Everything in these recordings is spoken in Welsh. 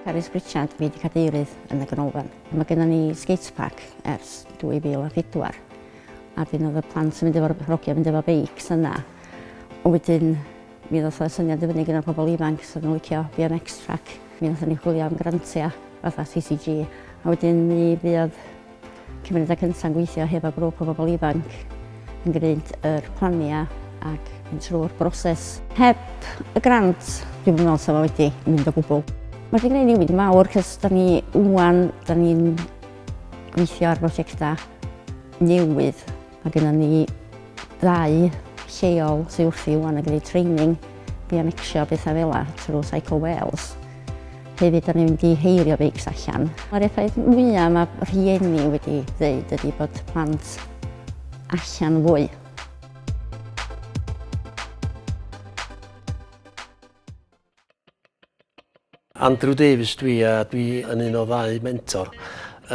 Carys Pritchard fydd y cadeirydd yn y ganolfan. Mae gennym ni skatepark ers 2004 a wedyn oedd y plant yn mynd efo'r hogiau yn mynd efo beics yna. Ond wedyn mi ddoth y syniad i fyny gyda'r pobl ifanc sydd yn licio BMX track. Mi ddoth ni chwilio am grantiau fatha CCG a wedyn mi fuodd Cymunedau Cynta' yn gweithio hefo grŵp o bobl ifanc yn gwneud yr planiau ac mynd trwy'r broses. Heb y grant, dwi'm yn meddwl 'sa fo wedi mynd o gwbl. Mae wedi gwneud newid mawr cys da ni ŵan, da ni'n gweithio ar brosiectau newydd. Mae gennym ni ddau lleol sydd wrthi rŵan yn gwneud training bionecsio a bethau fel yna trwy Cycle Wales. Hefyd, da ni'n mynd i heirio beics allan. Mae'r effaith mwyaf mae rhieni wedi dweud ydy bod plant allan fwy. Andrew Davies dw i a dw i yn un o ddau mentor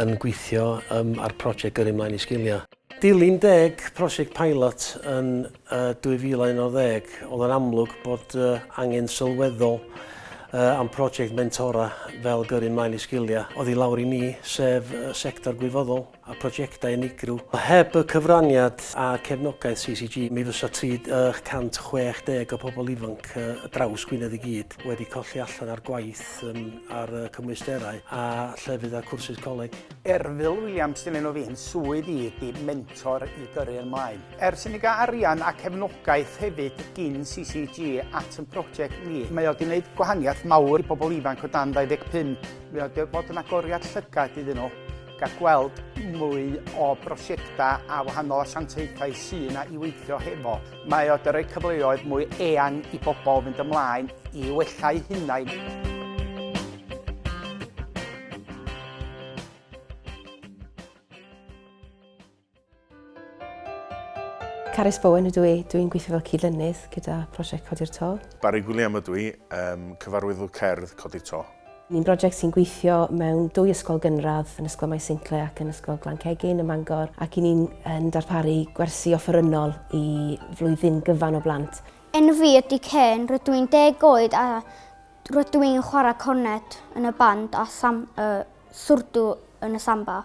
yn gweithio um, ar prosiect Gyrru Mlaen i Sgiliau. Dilyn deg prosiect pilot yn uh, 2011, oedd yn amlwg bod uh, angen sylweddol uh, am prosiect mentora fel Gyrru Mlaen i Sgiliau oedd i lawr i ni, sef uh, sector gwirfoddol. a phrosiectau unigryw. Heb y cyfraniad a cefnogaeth CCG, mi fysa 360 o pobl ifanc y draws Gwynedd i gyd wedi colli allan ar gwaith ar y cymwysterau a llefydd a cwrsus coleg. Erfil Williams, dilyn o fi, swydd i ydy mentor i gyrru yn mlaen. Ers i ni gael arian a cefnogaeth hefyd gin CCG at yn prosiect ni, mae o wedi gwneud gwahaniaeth mawr i bobl ifanc o dan 25, mae o wedi bod yn agoriad llygad iddyn nhw. Gall gweld mwy o brosiectau a wahanol asiantaethau sy'n a i weithio hefo. Mae o dyrau cyfleoedd mwy eang i bobl fynd ymlaen i wella'u hunain. Carys Bowen ydw i, dwi'n gweithio fel cyd-lynydd gyda prosiect Codi'r To. Barry Gwilliam ydw i, um, cyfarwyddwr cerdd Codi'r To. Ni'n brosiect sy'n gweithio mewn dwy ysgol gynradd yn Ysgol Maes Sincle ac yn Ysgol Glan Cegin ym Mangor ac i ni'n yn darparu gwersi offerynnol i flwyddyn gyfan o blant. Enw fi ydy Ken, rydw i'n deg oed a rydw i'n chwarae cornet yn y band a sam, uh, swrdw yn y samba.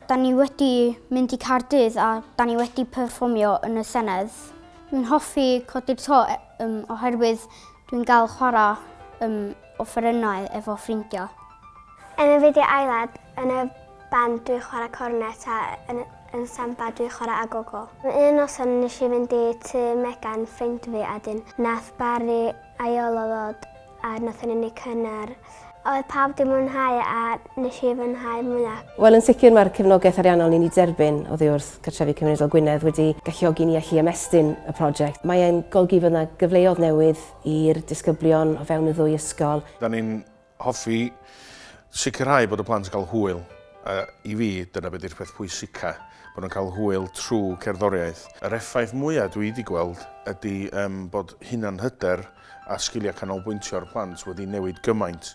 Da ni wedi mynd i Caerdydd a da ni wedi perfformio yn y Senedd. Dwi'n hoffi codi'r to e, um, oherwydd dwi'n gael chwarae um, offerynnau efo ffrindiau. Yn y fideo aelad, yn y band dwi'n chwarae cornet a yn, yn samba dwi'n chwarae agogo. Un noson nes i fynd i tu Megan ffrind fi a dyn nath Barry aiolo ddod A nathon ni neud cynnar. Oedd pawb 'di mwynhau a nes i fwynhau mwya. Wel yn sicr mae'r cefnogaeth ariannol ni'n ei derbyn oddi wrth Cartrefi Cymunedol Gwynedd wedi galluogi ni allu ymestyn y prosiect. Mae e'n golygu fod 'na gyfleodd newydd i'r disgyblion o fewn y ddwy ysgol. Da ni'n hoffi sicrhau bod y plant yn cael hwyl a i fi dyna be di'r peth pwysica, bod nhw'n cael hwyl trwy cerddoriaeth. Yr effaith mwya dwi 'di gweld ydi yym bod hunanhyder a sgiliau canolbwyntio ar blant wedi newid gymaint.